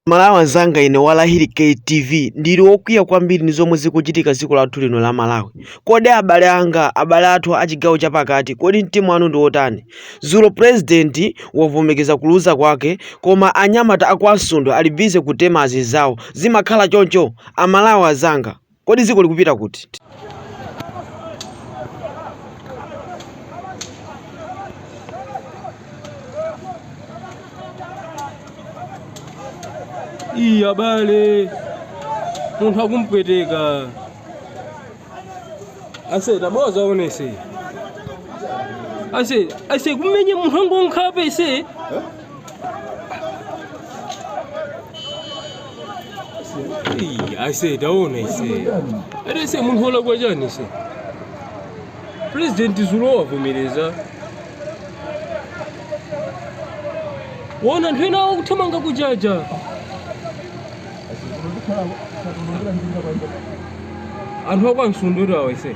Amalawi anzanga ine wa Lahiri K TV ndili wokwiya kwambiri ndi zomwe zikuchitika dziko lathu lino la Malawi. Kodi abale anga, abale athu a chigawo chapakati, kodi mtima wanu ndi wotani? Dzulo President wavomekeza kuluza kwake koma anyamata a kwa Msundwe ali busy kutema anzinzawo. Zimakhala choncho? Amalawi anzanga. Kodi dziko likupita kuti? Ii abale, munthu akumpweteka ase tangozionani ase ase kumenya munthu angonkhape ise Hey, I say taona aise ati aise munthu wolakwa chani aise purezidenti zulo wavomereza wona anthu ena akuthamanga kujaja anthu a kwa Msundwe kuti awa aise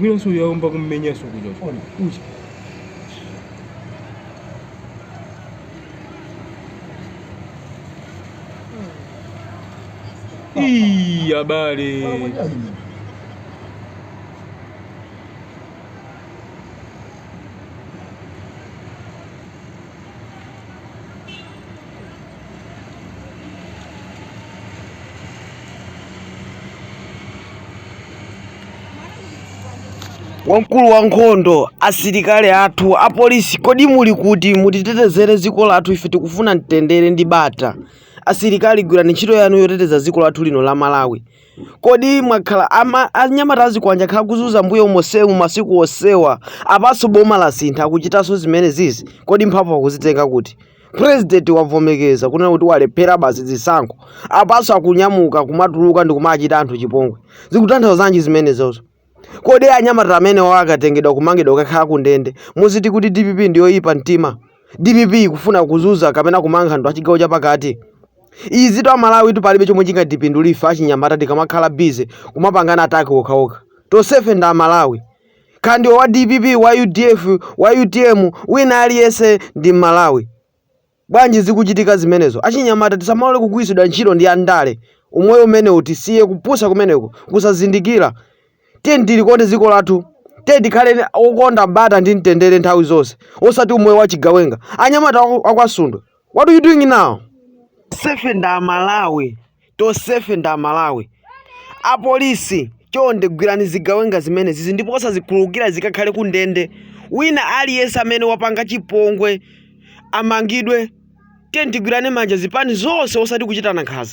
Winanso wayamba kummenyanso kuja Ona. uja. Ii, abale. wamkulu wa nkhondo asilikali athu apolisi kodi muli kuti mutitetezere dziko lathu ife tikufuna mtendere ndi bata asilikali gwirani ntchito yanu yoteteza dziko lathu lino la malawi kodi mwakhala ama- anyamata azikwanje akhala akuzunza mbuyo monsemu masiku onsewa apanso boma lasintha akuchitanso zimene zizi kodi mphamvu akuzitenga kuti president wavomekeza kunena kuti walephera basi zisankho apanso akunyamuka kumatuluka ndi kumachita anthu chipongwe zikutanthauza zanji zimenezozo kodi anyamata amene wawo akatengedwa kumangidwa kukakhala ku ndende muziti kuti dpp ndiyoyipa mtima dpp ikufuna kuzunza kapena kumanga anthu achigawo chapakati izitu amalawitu palibe chomwe chingatipindulire achinyamata tikamakhala bize kumapangana ataki okhaokha tonsefe ndi amalawi Kaya ndiwe wa dpp, wa udf, wa utm, wina aliyense ndi Mmalawi. Bwanji zikuchitika zimenezo? Achinyamata tisamalole kugwiritsidwa ntchito ndi andale. Umoyo umenewu tisiye, kupusa kumeneku, kusazindikira. Tiyeni tilikonde dziko lathu. Tiyeni tikhale okonda bata ndi mtendere nthawi zonse, osati umoyo wachigawenga. Anyamata aku- a kwa Msundwe What are you doing now? Tonsefe ndi Amalawi, tonsefe ndi Amalawi. Apolisi chonde gwirani zigawenga zimenezi ndipo osazikhululukira zikakhale kundende. Wina aliyense amene wapanga chipongwe amangidwe. Tiyeni tigwirane manja zipani zonse osati kuchitana nkhanza.